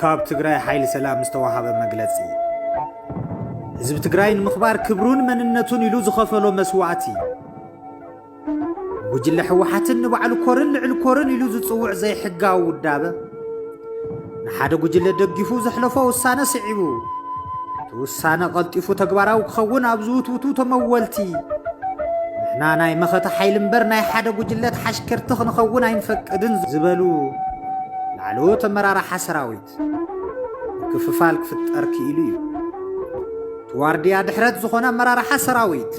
ካብ ትግራይ ሓይሊ ሰላም ዝተዋሃበ መግለጺ ህዝቢ ትግራይ ንምኽባር ክብሩን መንነቱን ኢሉ ዝኸፈሎ መስዋእቲ ጉጅለ ሕወሓትን ንባዕሉ ኮርን ልዕሊ ኮርን ኢሉ ዝጽውዕ ዘይሕጋዊ ውዳበ ንሓደ ጉጅለ ደጊፉ ዘሕለፎ ውሳነ ስዒቡ እቲ ውሳነ ቐልጢፉ ተግባራዊ ክኸውን ኣብ ዝውትውቱ ተመወልቲ ንሕና ናይ መኸተ ሓይሊ እምበር ናይ ሓደ ጉጅለ ተሓሽከርቲ ክንኸውን ኣይንፈቅድን ዝበሉ ላዕለዎት ኣመራርሓ ሰራዊት ምክፍፋል ክፍጠር ክኢሉ እዩ። እቲ ዋርድያ ድሕረት ዝኾነ ኣመራርሓ ሰራዊት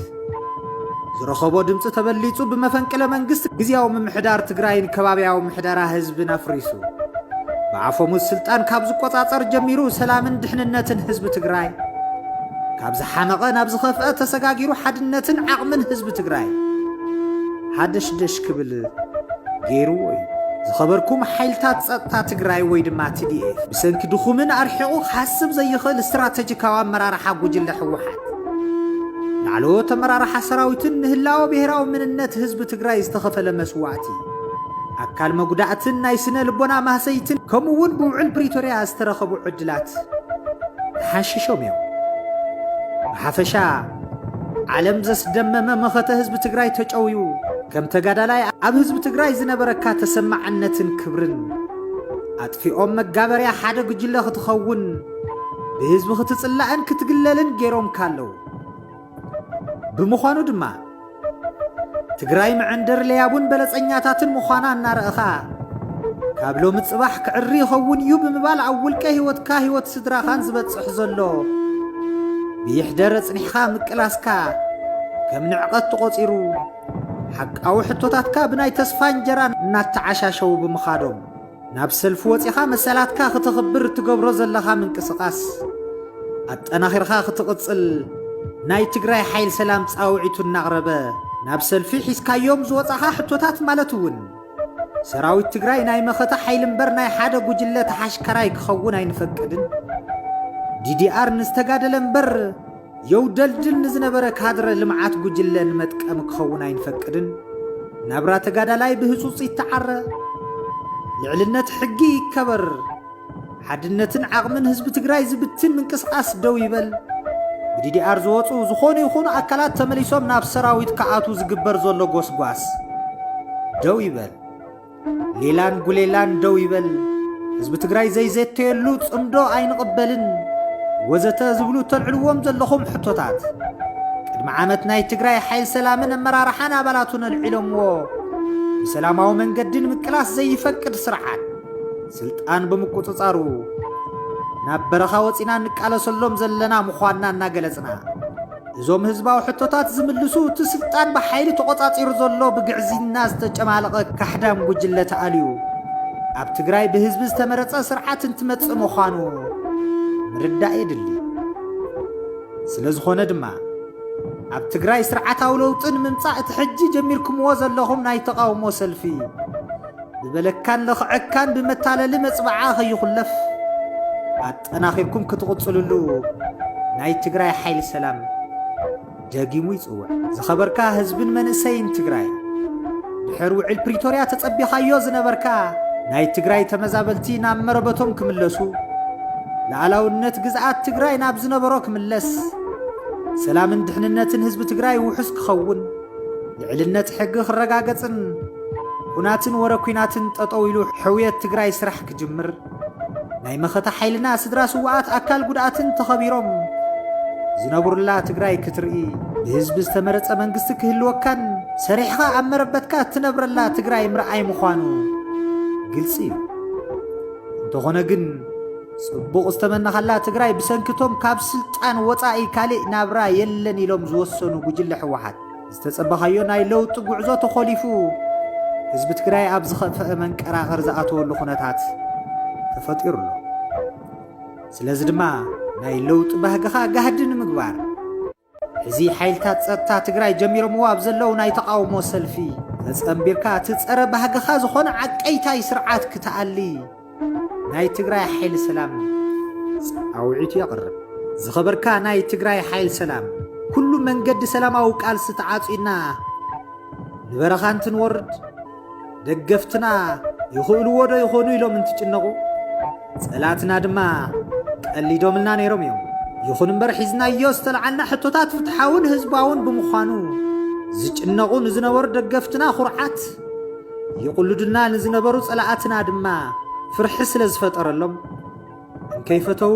ዝረኸቦ ድምፂ ተበሊፁ ብመፈንቅለ መንግስቲ ግዝያዊ ምምሕዳር ትግራይን ከባብያዊ ምሕደራ ህዝብን ኣፍሪሱ ብኣፈሙዝ ስልጣን ካብ ዝቆፃፀር ጀሚሩ ሰላምን ድሕንነትን ህዝቢ ትግራይ ካብ ዝሓመቐ ናብ ዝኸፍአ ተሰጋጊሩ ሓድነትን ዓቕምን ህዝቢ ትግራይ ሃደሽደሽ ክብል ገይርዎ እዩ። ዝኸበርኩም ሓይልታት ፀጥታ ትግራይ ወይ ድማ ትዲኤፍ ብሰንኪ ድኹምን ኣርሒቑ ክሓስብ ዘይኽእል ስትራተጂካዊ ኣመራርሓ ጉጅለ ህወሓት ላዕለዎት ኣመራርሓ ሰራዊትን ንህላወ ብሄራዊ ምንነት ህዝቢ ትግራይ ዝተኸፈለ መስዋእቲ ኣካል መጉዳእትን ናይ ስነ ልቦና ማህሰይትን ከምኡ እውን ብውዕል ፕሪቶርያ ዝተረኸቡ ዕድላት ተሓንሺሾም እዮም። ብሓፈሻ ዓለም ዘስደመመ መኸተ ህዝቢ ትግራይ ተጨውዩ ከም ተጋዳላይ ኣብ ህዝቢ ትግራይ ዝነበረካ ተሰማዕነትን ክብርን ኣጥፊኦም መጋበርያ ሓደ ጉጅለ ክትኸውን ብህዝቢ ክትፅላእን ክትግለልን ገይሮምካ ኣለው። ብምዃኑ ድማ ትግራይ መዐንደር ለያቡን በለጸኛታትን ምዃና እናረእኻ ካብ ሎሚ ጽባሕ ክዕሪ ይኸውን እዩ ብምባል ኣብ ውልቀ ህይወትካ ህይወት ስድራኻን ዝበጽሕ ዘሎ ብይሕደር ኣጽኒሕኻ ምቅላስካ ከም ንዕቐት ተቖጺሩ ሓቃዊ ሕቶታትካ ብናይ ተስፋ እንጀራ እናተዓሻሸዉ ብምኻዶም ናብ ሰልፊ ወጺኻ መሰላትካ ክተኽብር እትገብሮ ዘለኻ ምንቅስቃስ ኣጠናኺርኻ ክትቕጽል ናይ ትግራይ ሓይል ሰላም ጻውዒቱ እናቕረበ ናብ ሰልፊ ሒዝካዮም ዝወጻኻ ሕቶታት ማለት እውን ሰራዊት ትግራይ ናይ መኸተ ሓይሊ እምበር ናይ ሓደ ጉጅለ ተሓሽከራይ ክኸውን ኣይንፈቅድን ዲዲኣር ንዝተጋደለ እምበር የውደልድል ንዝነበረ ካድረ ልምዓት ጉጅለ ንመጥቀሚ ክኸውን ኣይንፈቅድን፣ ናብራ ተጋዳላይ ብህፁፅ ይተዓረ፣ ልዕልነት ሕጊ ይከበር፣ ሓድነትን ዓቕምን ህዝቢ ትግራይ ዝብትን ምንቅስቓስ ደው ይበል፣ ብዲዲኣር ዝወፁ ዝኾኑ ይኹኑ ኣካላት ተመሊሶም ናብ ሰራዊት ክኣትዉ ዝግበር ዘሎ ጎስጓስ ደው ይበል። ሌላን ጉሌላን ደው ይበል፣ ህዝቢ ትግራይ ዘይዘተየሉ ጽምዶ ኣይንቕበልን ወዘተ ዝብሉ እተልዕልዎም ዘለኹም ሕቶታት ቅድሚ ዓመት ናይ ትግራይ ሓይል ሰላምን ኣመራርሓን ኣባላቱን ኣልዒሎምዎ ብሰላማዊ መንገዲ ንምቅላስ ዘይፈቅድ ስርዓት ስልጣን ብምቁጽጻሩ ናብ በረኻ ወፂና እንቃለሰሎም ዘለና ምዃንና እናገለጽና እዞም ህዝባዊ ሕቶታት ዝምልሱ እቲ ስልጣን ብሓይሊ ተቖጻጺሩ ዘሎ ብግዕዝይና ዝተጨማለቐ ካሕዳም ጉጅለ ተኣልዩ ኣብ ትግራይ ብህዝቢ ዝተመረጸ ስርዓት እንትመጽእ ምዃኑ ምርዳእ የድሊ። ስለ ዝኾነ ድማ ኣብ ትግራይ ስርዓታዊ ለውጢ ንምምጻእ እቲ ሕጂ ጀሚርክምዎ ዘለኹም ናይ ተቓውሞ ሰልፊ ብበለካን ለኽዐካን ብመታለሊ መጽብዓ ከይኹለፍ ጠናኺርኩም ክትቕፅልሉ ናይ ትግራይ ሓይሊ ሰላም ደጊሙ ይፅውዕ። ዝኸበርካ ህዝብን መንእሰይን ትግራይ ድሕር ውዕል ፕሪቶርያ ተጸቢኻዮ ዝነበርካ ናይ ትግራይ ተመዛበልቲ ናብ መረበቶም ክምለሱ ላዕላውነት ግዝኣት ትግራይ ናብ ዝነበሮ ክምለስ ሰላምን ድሕንነትን ህዝቢ ትግራይ ውሑስ ክኸውን ልዕልነት ሕጊ ክረጋገጽን ኩናትን ወረ ኩናትን ጠጠው ኢሉ ሕውየት ትግራይ ስራሕ ክጅምር ናይ መኸተ ሓይልና ስድራ ስውኣት ኣካል ጉድኣትን ተኸቢሮም ዝነብሩላ ትግራይ ክትርኢ ብህዝቢ ዝተመረፀ መንግስቲ ክህልወካን ሰሪሕኻ ኣብ መረበትካ እትነብረላ ትግራይ ምርኣይ ምዃኑ ግልፂ እዩ እንተኾነ ግን ጽቡቕ ዝተመናኻላ ትግራይ ብሰንኪቶም ካብ ስልጣን ወፃኢ ካልእ ናብራ የለን ኢሎም ዝወሰኑ ጉጅለ ሕወሓት ዝተፀበኻዮ ናይ ለውጢ ጉዕዞ ተኾሊፉ ህዝቢ ትግራይ ኣብ ዝኸፈአ መንቀራቕር ዝኣተወሉ ኩነታት ተፈጢሩ ኣሎ። ስለዚ ድማ ናይ ለውጢ ባህግኻ ጋህዲ ንምግባር እዚ ሓይልታት ጸጥታ ትግራይ ጀሚሮምዎ ኣብ ዘለው ናይ ተቓውሞ ሰልፊ ተጸንቢርካ እቲ ጸረ ባህግኻ ዝኾነ ዓቀይታይ ስርዓት ክትኣሊ ናይ ትግራይ ሓይሊ ሰላም ፃውዒቱ የቕርብ። ዝኸበርካ ናይ ትግራይ ሓይል ሰላም ኩሉ መንገዲ ሰላማዊ ቃልሲ ተዓጺና ንበረኻ እንትንወርድ ደገፍትና ይኽእልዎ ዶ ይኾኑ ኢሎም እንትጭነቑ ጸላትና ድማ ቀሊዶምልና ነይሮም እዮም። ይኹን እምበር ሒዝናዮ ዝተለዓልና ሕቶታት ፍትሓውን ህዝባውን ብምዃኑ ዝጭነቑ ንዝነበሩ ደገፍትና ኩርዓት ይቕልዱና ንዝነበሩ ጸላኣትና ድማ ፍርሒ ስለ ዝፈጠረሎም እንከይፈተዉ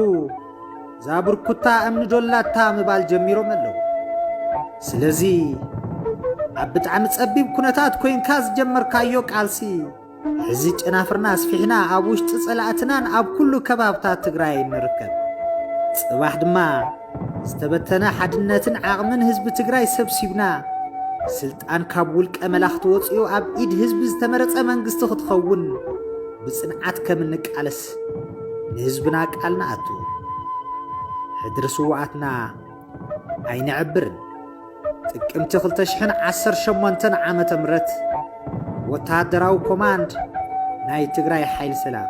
እዛ ብርኩታ እምኒ ዶላታ ምባል ጀሚሮም ኣለዉ። ስለዚ ኣብ ብጣዕሚ ጸቢብ ኩነታት ኮይንካ ዝጀመርካዮ ቃልሲ ሕዚ ጨናፍርና ኣስፊሕና ኣብ ውሽጢ ጸላእትናን ኣብ ኩሉ ከባብታት ትግራይ ንርከብ። ጽባሕ ድማ ዝተበተነ ሓድነትን ዓቕምን ህዝቢ ትግራይ ሰብሲብና ስልጣን ካብ ውልቀ መላኽቲ ወፂኡ ኣብ ኢድ ህዝቢ ዝተመረፀ መንግስቲ ክትኸውን ብፅንዓት ከም እንቃለስ ንህዝብና ቃል ንኣቱ። ሕድሪ ስውኣትና ኣይነዕብርን። ጥቅምቲ 2018 ዓመተ ምህረት ወተሃደራዊ ኮማንድ ናይ ትግራይ ሓይሊ ሰላም